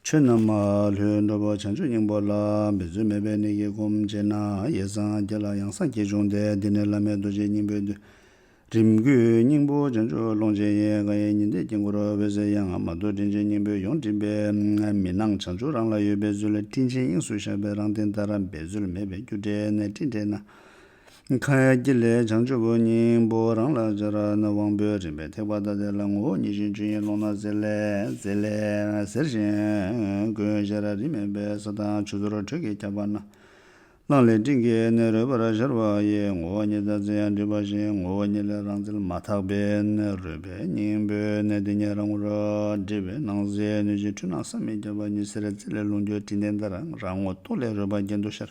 ཆོས་རྣམས་མ་ལུས་འགྲོ་བ་བྱང་ཆུབ་སྙིང་པོ་ལ་འབད་རྩོལ་མེད་པའི་གནད་ཀྱིས་བསྒོམ་བྱས་ན་ཡེ་སངས་རྒྱས་ལ་ཡང་སངས་རྒྱས་འབྱུང་སྟེ་འདི་ནི་བླ་མེད་རྡོ་རྗེ་སྙིང་པོའི་མདོའི་རིམ་དགུའི་སྙིང་པོ་བྱང་ཆུབ་ཀློང་ཆེན་ཡེ་ག་ཡི་ཉི་ཟླའི་དཀྱིལ་འཁོར་འོད་ཟེར་ཡང་མ་རྡོ་དྲིན་ཆེན་སྙིང་པོའི་ཡོངས་སྤྲིན་པས་མི་སྣང་བྱང་ཆུབ་རང་ལ་ཡོད་པའི་ཚུལ་སྤྲིན་ཆེན་དབྱིངས་སུ་ཤར་བས་རང་སྟེང་ལྟར་འབད་རྩོལ་མེད་པའི་རྒྱུ་འབྲས་ནས་སྤྲིན་བྲལ་ན། མཁའ་དཀྱིལ་ལས་བྱང་ཆུབ་སྙིང་པོ་རང་ལ་སྦྱར། དབང་པོའི་རིམ་པའི་ཐེག་པ་ཐ་དད་ལ་ངོ་བོ་ཉིད་བཞིན་ཆོས་དབྱིངས་ཀློང་ན་གསལ། གསལ་ལེ། ཟེར་ཞིང། ཀུན་གཞི་ར་རི་མེད་པའི་ས་དང་ཆུ་ཟོར་དྲོད་ཀྱིས་ཁྱབ་པ་ན། སྣང་ལས་སྤྲིན་གྱི་གནས་རོལ་པར་ཤར་བ་ཡི་ངོ་བོ་ཉིད་དང་ཚེ་ཡང་འདྲེས་པ་བཞིན་ངོ་བོ་ཉིད་ལས་རང་རྩལ་མ་དག་པས་ན་རོལ་པའི་སྙིང་པོའི་གནས་དེ་ཉིད་རང་ངོ། འདྲེས་པའི་སྣང་གསལ་གནོད་སྦྱིན་འཁྲུལ་སྣང་བསམ་མི་ཁྱབ་པ་ཉི་ཟེར་རྩེ་ལས་རླུང་རྒྱུ་སྤྲིན་ལྡན་ལྟར་རང་ངོ་སྟོང་ལས་རོལ་པ་རྒྱན་དུ་ཤར།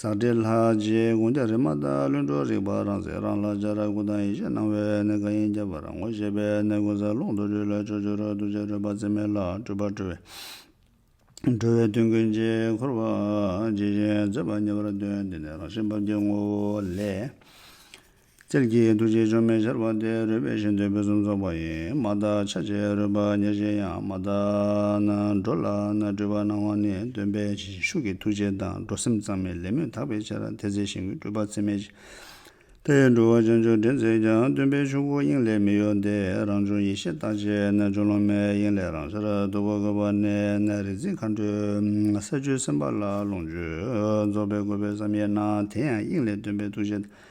ཟག་བྲལ་ལྷ་རྗེའི་དགོངས་རྒྱ་རི་མ་ཏཱ་ལུས་འགྲོ་རིག་པ་རང་གསལ་རང་ལྷ་རྒྱ་ར་ཀུ་དང་ཡེ་ཤེས་སྣང་བའི་གནས་གང་ཡིན་རྒྱ་བ་རང་ངོ་ཤེས་པའི་གནས་ཀུན་གསལ་ཀློང་དུ་རྒྱུད་ལ་ཕྱོགས་བཅུར་རོལ་གདུལ་བྱ་སྤྲོས་པ་ཚད་མེད་ལ་སྤྲོས་པ་གྲོལ་བས། གྲོལ་བའི་དོན་ཀུན་གྱིས་འཁོར་བ་ཇི་བཞིན་མཛད་པ་ཉེ་བར་སྟོན། འདི་ནི་རང་བཞིན་བབ་ཀྱི་ངོ་བོ་ལས། རྩལ་གྱིས་གདུལ་བྱའི་སྦྱོར་མེད་ཤར་བ་སྟེ་རོལ་པའི་ཞེ་འདོད་ཕུན་སུམ་ཚོགས་པ་ཡིན། མ་དག་ཆ་བྱད་རོལ་པ་ཉེར་བཞི་ཡང་མ་དག། འགྲོ་ལ་སྤྲུལ་པར་སྣང་བ་ནི་སྟོན་པའི་བྱིན་གྱི་ཤུགས་ཀྱིས་ཐུགས་རྗེ་དང་འགྲོ་སེམས་གཙང་མའི་ལས་སྨོན་དག་པའི་ཕྱིར་དེ་ཚེ་ཞིང་ཀུན་སྤྲུལ་པ་ཚད་མེད་དེ་ཡི་འགྲོ་བ་བྱང་ཆུབ་འདྲེན་མཛད་ཀྱང་སྟོན་པའི་ཆོས་སྐུ་དབྱིངས་ལས་མི་གཡོ་སྟེ་རང་བྱུང་ཡེ་ཤེས་རྟག་ཆད་ཆོས་ལོང་མའི་དབྱིངས་ལས་རང་སར་རྡོལ་བ་དགོད་པར་གནས། རིག་འཛིན་མཁའ་འགྲོས་ས་བཅུའི་སེམས་དཔའ་ལ་ལོངས་སྤྱོད་རྫོགས་པའི་དགོས་པའི་བསམ་ཡས་ན་དེ་ཡང་དབྱིངས་ལས་སྟོན་པའི་ཐུགས་རྗེ་དང།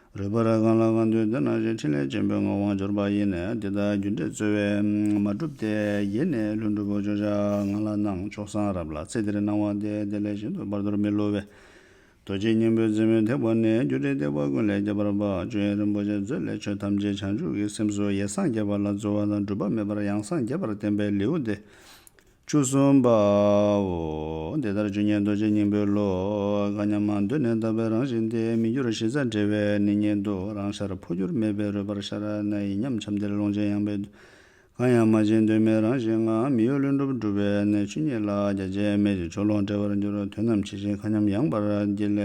རོལ་པར་གང་ལ་གང་འདུལ་འདོད་ན་བཞིན་ཕྲིན་ལས་ཆེན་པོའི་ངག་དབང་འབྱོར་པ་ཡེ་ནས་འདི་ལྟར་རྒྱུ་འབྲས་རྩོལ་བས་མ་གྲུབ་སྟེ། ཡེ་ནས་ལྷུན་གྲུབ་བོ་ཅོག་བྱ་ང་ལ་གནང་མཆོག་གསང་རབ་ལ་ཚེ་འདིར་སྣང་བ་དེ་དེ་ལས་གཞན་དུ་བར་དོར་མི་བསླུ་བས། རྡོ་རྗེ་སྙིང་པོའི་རྩེ་མོའི་ཐེག་པ་ནས་རྒྱུ་འབྲས་ཐེག་པ་ཀུན་ལས་ཁྱད་པར་བ་ཅོ་ཡན་རིན་པོ་ཆེ་མཛོད་ལས་ཆོས་ཐམས་ཅད་བྱང་ཆུབ་ཀྱི་སེམས་སུ་ཡེ་སངས་རྒྱས་པ་ལ་རྩོལ་བ་དང་སྒྲུབ་པ་མེད་པར་ཡང་སངས་རྒྱས་པར་བསྟན་པའི་ལེའུ་སྟེ། བཅུ་གསུམ་པའོ། དེ་ལྟར་བཅུ་གཉིས་རྡོ་རྗེ་སྙིང་པོའི་བློ། དགའ་སྙམ་མ་འདོད་ནས་དག་པའི་རང་བཞིན་ཏེ་མི་འགྱུར་གཞི་རྩ་འབྲེལ་བས་ནི་མྱེད་དོ། རང་ཤར་འཕོ་འགྱུར་མེད་པས་རོལ་པར་ཤར། ན་ཡི་ཉམས་ཁྱམས་དེར་ཀློང་ཆེན་ཡངས་པས། གང་ཡང་མ་བྱིན་གདོད་མའི་རང་བཞིན་ངང། མི་གཡོ་ལྷུན་གྲུབ་འགྲུབ་པས་ནི་ཆོས་ཉིད་ལ། རྒྱ་ཆད་མེད་ཅིང་ཕྱོགས་ལོངས་བྲལ་བར་འགྱུར། དོན་རྣམས་ཇི་བཞིན་མཁའ་མཉམ་ཡངས་པར་བསྐྱིལ།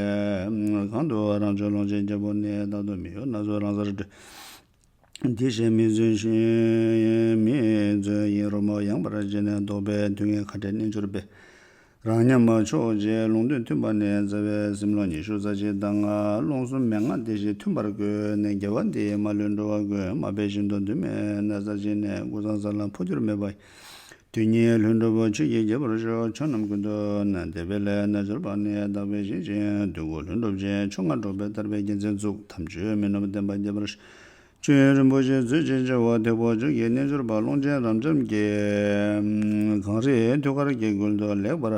གང་དུའང་རང་བྱོན་ཀློང་ཆེན་རྒྱལ་པོ་ནི། རྟག་ཏུ་མི་གཡོ་ན་སོ་རང་སར་གྲོལ། དེ་བཞིན་མི་བརྫུན་ཞིང་མི་བརྫུན་ཡིན་རོལ་མོ་ཡངས་པར་བརྗེད་ནས་བཟློག་པའི་དུས་ངན་ཁ་བྲལ་རྣལ་འབྱོར་པས། རང་ཉམས་ཕྱོགས་བཅས་ལུང་དོན་མཐུན་པ་ནས་རྩ་བའི་སེམས་ལོ་ཉི་ཤུ་རྩ་གཅིག་ཟླ་ལྔ་རླུང་གསུམ་མན་ངག་སྡེ་བཞི་མཐུན་པར་བཀོད་ནས་རྒྱལ་བ་འདིའི་མ་ལུས་འགྲོ་བ་ཀུན་མ་དཔལ་བཞིན་དུ་འདུན་མའི་ན་བཟའ་བྱིན་ནས་ཀུན་བཟང་ས་ལ་འཕོ་འགྱུར་མེད་པ་ཡི་དུས་གཉིས་ལྷུན་གྲུབ་བོ་ཆེ་ཡིས་དགྱེས་པར་ཤོག་ཕྱོགས་རྣམས་ཀུན་ཏུ་ན་དད་པའི་ལས་རྣལ་འབྱོར་པ་ནི་དག་པའི་ཞིང་ཆེན་བདུད་མགོ་ལྷུན་གྲུབ་ཅན་མཆོག་སྔར་སྒྲོགས་པའི་དར་པའི་རྒྱལ་མཚན་བཙུགས་དམ་ཆོས་མི་ནོར་བསྟན་པ་རྒྱས་པར་བྱོན་རིན་པོ་ཆེ་མཛོད་ཅིག་ཅེས་འོག་ཐེག་བོ་ཆོས་ཀྱི་རྣལ་འབྱོར་པ་ཀློང་ཆེན་རབ་འབྱམས་ཀྱི་གངས་རིའི་ཐུགས་ཀར་དགྱེས་བསྐུལ་དུ་ལེགས་པར་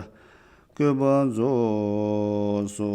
བཀོད་པ་རྫོགས་སོ།